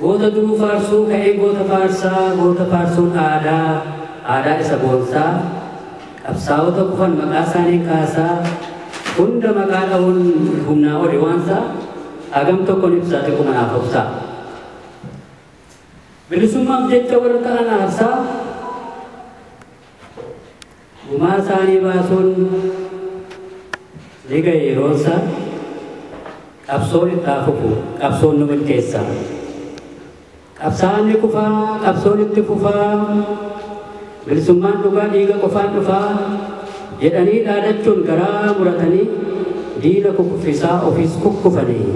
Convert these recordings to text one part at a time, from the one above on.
Goota duruu faarsuu ka'ee goota faarsaa goota faarsuun aadaa aadaa isa boonsaa qabsaa'ota kufan maqaa isaaniin kaasaa hunda maqaa dha'uun humnaa oli waansaa hagam tokkon ibsaa xiqquma naaf obsaa bilisummaaf jecha warra ta'an aarsaa Gumaa isaanii baasuun ni ga'e yeroon isaa. Qabsoon itti haa fufu, qabsoon nu milkeessa. Qabsaa'aan ni kufa, qabsoon itti fufa. Bilisummaan dhugaa dhiiga qofaan dhufa. Jedhanii dhaadachuun garaa muratanii diina kukuffisaa ofiis kukkufanii.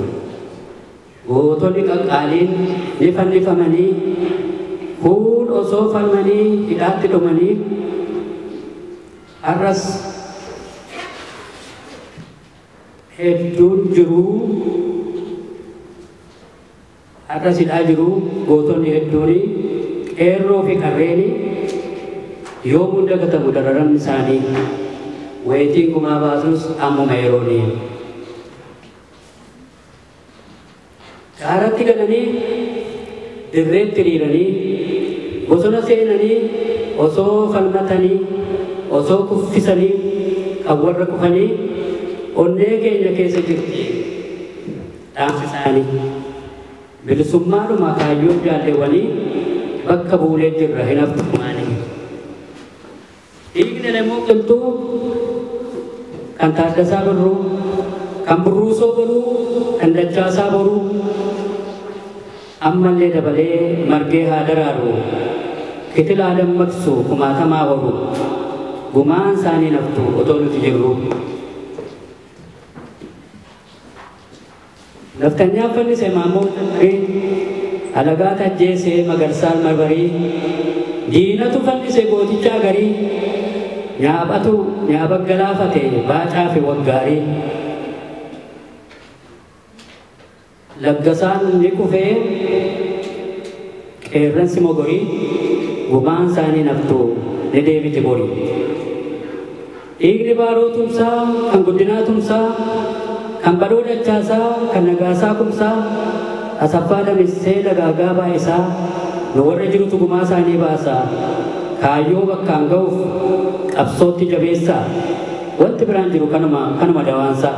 Gootonni qaqqaaliin ni fannifamanii, kuun osoo falmanii hidhaatti dhumanii, har'as hedduun jiru, har'as hidhaa jiru gootonni hedduuni, qeerroo fi qarreeni yoomuu hin dagatamu dararamni isaanii, wayitiin gumaa baasus ammuma yerooni. Gaaratti galanii dirreetti hiriiranii, bosona seenanii osoo falmatanii, osoo kuffisanii kan warra kufanii onnee keenya keessa jirti dhaamsi isaanii. Bilisummaadhuma kaayyoo jaalleewwanii bakka buunee jirra hin haftu gumaanii. Dhiigni Elemoo Qilxuu, kan Taaddasaa Birruu, kan Burruusoo Boruu, kan Dachaasaa Boruu ammallee dabalee margee haa daraaru, kitila haa dammaqsu, kumaatama haa horu, gumaan isaanii hin haftu otoo nuti jirruu. Nafxanyaa fannise Maammoon Dhamri alagaat ajjeese Magarsaan Marmarii diinatu fannise gootichaa garii Nyaabatu Nyaaba galaafate Baacaa fi Waggaarii Laggasaan ni kufee. Qeerransi mogorii gumaan saanii naftu ni deebiti bori. Dhiigni Baaroo Tumsaa kan Guddinaa Tumsaa, kan Badhoo Dachaasaa, kan Nagaasaa Kumsaa, Asaffaa Damissee, Dagaagaa Baay'isaa nu warra jirutu gumaa saanii baasa. Kaayyoo bakkaan ga'uuf qabsootti jabeessaa. Wanti biraan jiru kanuma, kanuma dawaansaa.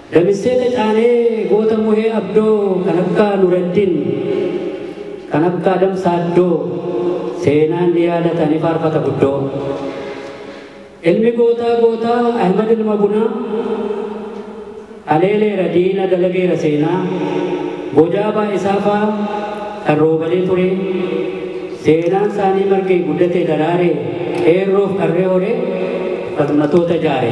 Damissee Tacaanee goota Muhee Abdoo kan akka Nureddin, kan akka Adam Saaddoo seenaan ni yaadata ni faarfata guddoo. Ilmi gootaa gootaa Ahmad Ilma Bunaa haleeleera diina dalageera seenaa bojaabaa isaafaa kan roobalee ture seenaan isaanii margee guddatee daraare qeerroof qarree horee falmatoota jaare.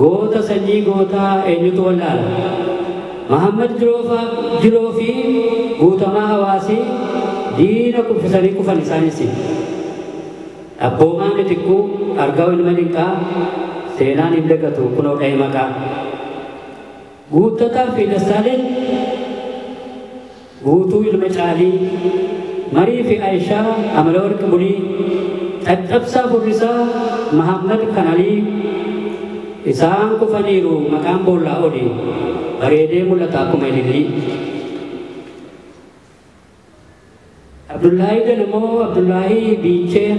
Goota sanyii gootaa eenyutu wallaala? Mahaammad Jiloo fi Guutamaa Hawaasi diina kuffisanii kufan isaan issi. Dhabboomaa Mitikkuu, Argaaw Ilma Dinqaa seenaan hin dagatu kunoo dha'e maqaa. Guuttataa fi Dassaaleny Guutuu ilma Caalii, Marii fi Ayishaa Amalawarq Bulii, Caccabsaa Furrisaa Mahaammad Kanalii, Isaan kufaniiru maqaan boollaa oli, bareedee mul'ata akkuma ilillii. Abdullaahii Ganamoo, Abdullaahii Biichee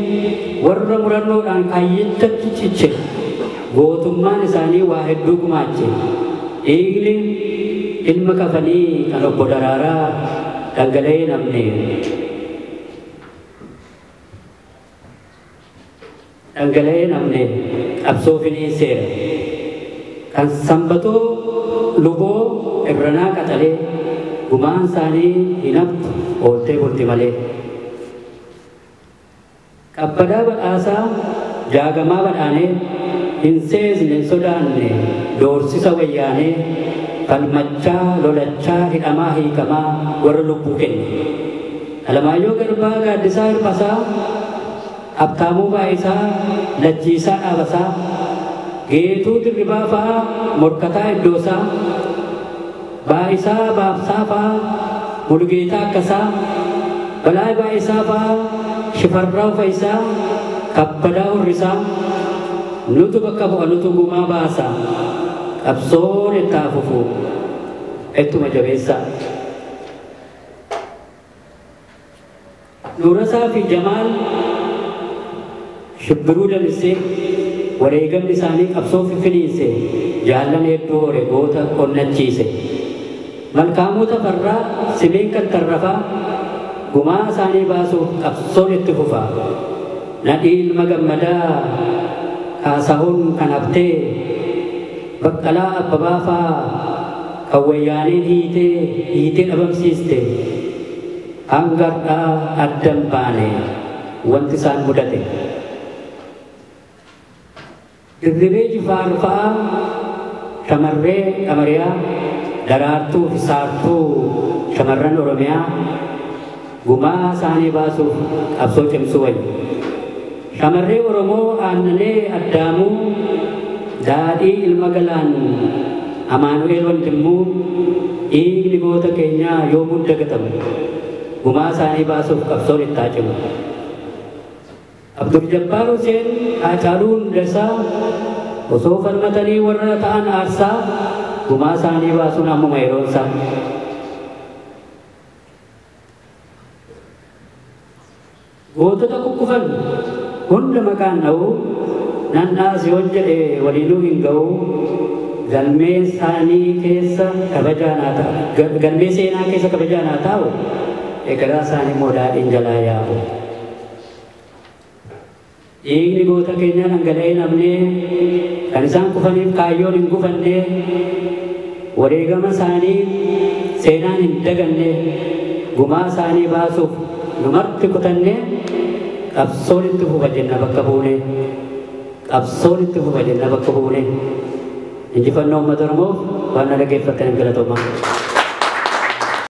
warra murannoodhaan kaayyichatti ciche. Gootummaan isaanii waa hedduu gumaache. Dhiigni ilma kafanii kan Obbo Daraaraa dhangala'ee hin hafne. dhangala'ee hin hafne qabsoo finiinseera. Kan Sanbatoo Luboo Irranaa Qaxalee gumaan isaanii hin haftu ooltee bulti malee. Kabbadaa Badhaasaa Jaagamaa Badhaanee hin seesne hin sodaanne doorsisa Wayyaanee falmachaa lolachaa hidhamaa hiikamaa warra lubbuu kenne. Alamaayyoo Garbaa, Gaaddisaa Hirphasaa, Habtaamuu Baayisaa, Lachiisaa Dhaabasaa, Geetuu Dirribaa fa'a Morkataa Iddoosaa, Baayisaa Baabsaa fa'a Mulugeetaa Akkasaa, Balaay Baayisaa fa'a Shifarraaw Fayisaa, Kabbadaa Hurrisaa, Nutu bakka bu'a nutu gumaa baasa, qabsoon itti haa fufu, ittuma jabeessaa. Nuurasaa fi Jamaal Shibbiruu Damissee wareegamni isaanii qabsoo fiffiniinse jaallan hedduu hore goota onnachiise. Malkaamuu Tafarraa, Simeen Kattarrafaa gumaa isaanii baasuuf qabsoon itti fufa. Nadhii Ilma Gammadaa, Kaasahuun kan haftee. Baqqalaa Abbabaa faa kan Wayyaaneen hiitee hiitee dhabamsiiste hanga har'aa adda hin baane wanti isaan mudate. Dirribee Jifaar fa'a shamarree Qamariyaa, Daraartuu fi Saartuu shamarran Oromiyaa, Gumaa saanii baasuuf qabsoo cimsuu wayya. Shamarree Oromoo Aannanee Addaamuu, Daadhii Ilma Galaan, Amaanu'eel Wandimmuu, dhiigni goota keenyaa yoomuu hin dagatamu. Gumaa saanii baasuuf qabsoon itti haa cimu. Abduljabbaar Huseen, Haacaaluu Hundesaa, osoo falmatanii warra ta'an aarsaa, gumaa saanii baasuun ammuma yeroonsaa. Gootota kukkufan hunda maqaan dha'uu nan dhaas yoon jedhe waliinuu hin ga'uu galmee saanii keessa kabajaa naa ta'a galmee seenaa keessa kabajaa naa taa'u ekeraa saanii moo daadhiin jalaa yaa'u. Dhiigni goota keenyaa dhangala'ee hin hafne, kan isaan kufaniif kaayyoon hin gufanne, wareegama isaanii seenaan hin daganne, gumaa isaanii baasuuf nu marti kutannee qabsoon itti fufa jenna bakka buune. Qabsoon itti fufa jenna bakka buune. Injifannoo Uummata Oromoof waan na dhaggeeffattaniif galatoomaa.